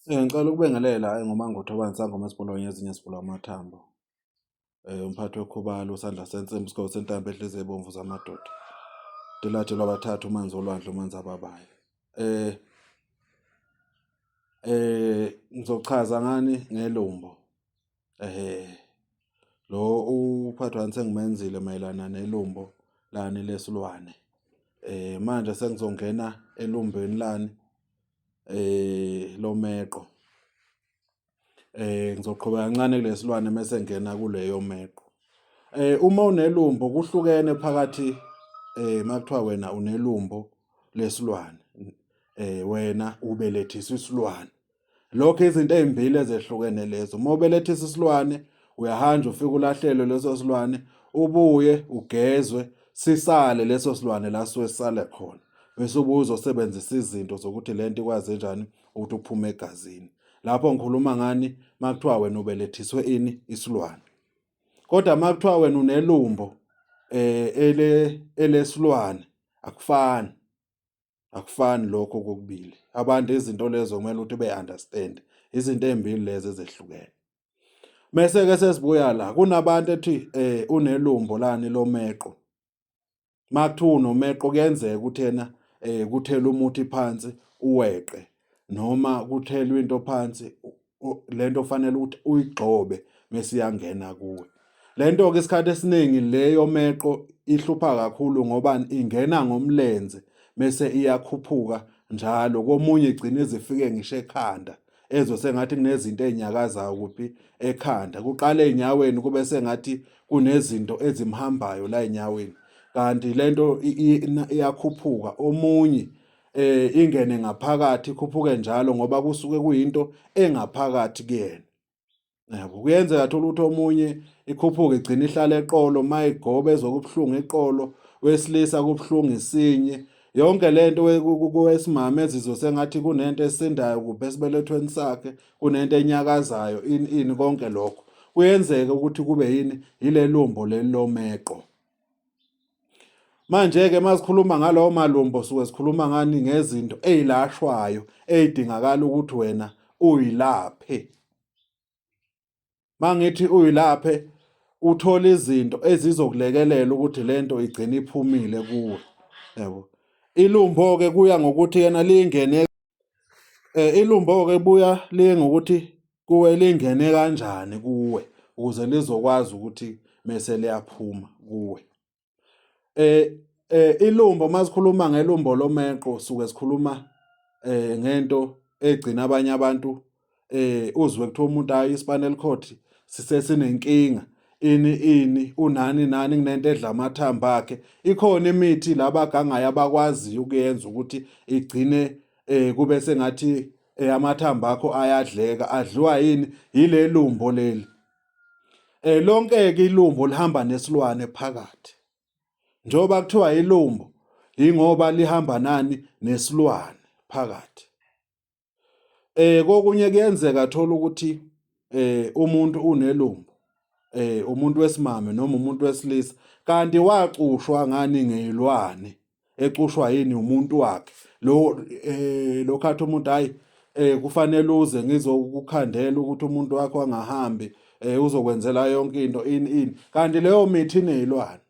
Ngicela ukubingelela enguMangotho obani sangoma esibulawa ngezinye esibulawa amathambo. Umphathi wekhubalo usandla sensimbi isigqoko sentambo ehlezi ebomvu zamadoda. Dilathe lwabathathu umanzi olwandle umanzi ababayo. Eh eh ngizochaza ngani ngelumbo. Lo uPhathwani sengimenzile mayelana nelumbo lani lesilwane. Manje sengizongena elumbeni lani lomeqo. Ngizoqhubeka kancane kule silwane mese ngingena kule yomeqo. Uma unelumbo kuhlukene phakathi uma kuthiwa wena unelumbo lesilwane wena ubelethiswa isilwane. lokho izinto ezimbili ezehlukene lezo uma ubelethisa isilwane uyahanja ufike ulahlelwe leso silwane ubuye ugezwe sisale leso silwane la suke sisale khona bese ubuye uzosebenzisa izinto zokuthi le nto ikwazi njani ukuthi uphume egazini lapho ngikhuluma ngani makuthiwa wena ubelethiswe ini isilwane kodwa makuthiwa wena unelumbo eh ele elesilwane akufani akufani lokho kokubili abantu izinto lezo kumele ukuthi be-understand izinto ey'mbili lezi ezehlukene Mese-ke sesibuya la kunabantu ethi eh unelumbo lani lomeqo. Makuthiwa unomeqo kuyenzeka ukuthi yena eh kuthela umuthi phansi uweqe noma kuthelwa into phansi lento ofanele ukuthi uyigxobe mesiyangena kuwe lento ke isikhathi esiningi leyo meqo ihlupha kakhulu ngoba ingena ngomlenze mese iyakhuphuka njalo komunye igcina izifike ngisho ekhanda ezwe sengathi kunezinto ezinyakazayo kuphi ekhanda kuqale enyaweni kube sengathi kunezinto ezimhambayo la enyaweni kanti lento iyakhuphuka omunye eh ingene ngaphakathi ikhuphuke njalo ngoba kusuke kuyinto engaphakathi kuyena yabo kuyenzeka thola ukuthi omunye ikhuphuke igcina ihlala eqolo mayigobe ezokubuhlungu eqolo wesilisa kubuhlungu isinye yonke lento kwesimame ezizwe sengathi kunento esindayo kuphe esibelethweni sakhe kunento enyakazayo ini ini konke lokho kuyenzeka ukuthi kube yini yilelumbo lelilomeqo Manje-ke masikhuluma ngalowo malumbo suke sikhuluma ngani ngezinto eyilashwayo eyidingakala ukuthi wena uyilaphe. Mangithi uyilaphe uthola izinto ezizokulekelela ukuthi lento igcine iphumile kuwe. Yebo. Ilumbo ke kuya ngokuthi yena lingene eh, ilumbo ke buya lingokuthi kuwe lingene kanjani kuwe ukuze lizokwazi ukuthi mese liyaphuma kuwe eh eh ilumbo masikhuluma ngelumbo lomeqo suke sikhuluma eh ngento egcina abanye abantu eh uzwe kuthiwa umuntu ayi spinal cord sisesinenkinga ini ini unani nani kunento edla amathamba akhe ikhona imithi labagangayo abakwaziyo ukuyenza ukuthi igcine eh kube sengathi eh, amathambo akho ayadleka adliwa yini yilelumbo leli eh lonke ke ilumbo lihamba nesilwane phakathi njoba kuthiwa ilumbo ingoba lihamba nani nesilwane phakathi eh kokunye kuyenzeka thola ukuthi eh umuntu unelumbo eh umuntu wesimame noma umuntu wesilisa kanti wacushwa ngani ngeyilwane ecushwa yini umuntu wakhe lo eh lokhathi umuntu hayi eh kufanele uze ngizokukhandela ukuthi umuntu wakho angahambi eh uzokwenzela yonke into in in kanti leyo mithi inezilwane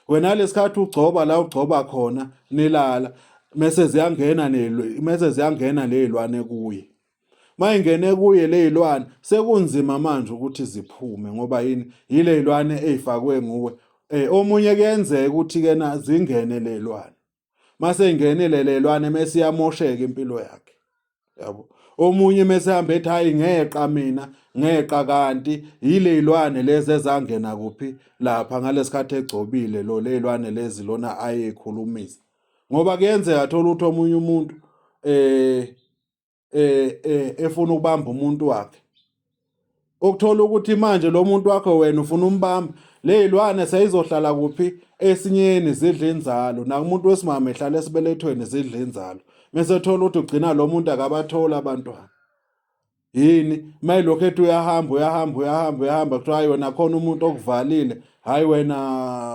wena lesikhathi ugcoba la ugcoba khona nilala mese ziyangena nezilwane mese ziyangena lezilwane kuye mayingene kuye leyilwane sekunzima manje ukuthi ziphume ngoba yini yileyilwane ezifakwe nguwe eh omunye kuyenzeka ukuthi ke na zingene lelwane mase ingenile lelwane mase iyamosheka impilo yakhe yabo omunye mase hamba ethi hayi ngeqa mina ngeqa kanti yilezilwane lezi ezangena kuphi lapha ngalesikhathi egcobile lo lezilwane lezi lona ayekhulumisa ngoba kuyenzeka thola ukuthi omunye umuntu eh eh, eh efuna ukubamba umuntu wakhe okuthola ukuthi manje lo muntu wakho wena ufuna umbamba leyilwane seyizohlala kuphi esinyeni zidla inzalo nakumuntu wesimama ehlala esibelethweni zidla inzalo mesethola ukuthi ugcina lo muntu akabatholi abantwana yini mayilokhu ethi uyahamba uyahamba uyahamba uyahamba kuthiwa hayi wena khona umuntu okuvalile hayi wena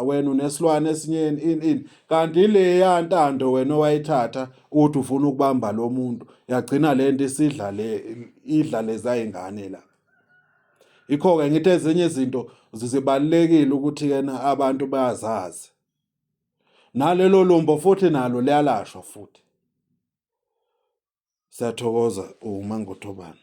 wena unesilwane esinyeni ini ini kanti ileya ntando wena owayithatha uthi ufuna ukubamba lo muntu yagcina le nto isidla le idla lezayingane la ikho-ke ngithi ezinye izinto zibalulekile ukuthi yena abantu bayazazi nalelo lumbo futhi nalo liyalashwa futhi siyathokoza uma ngothobana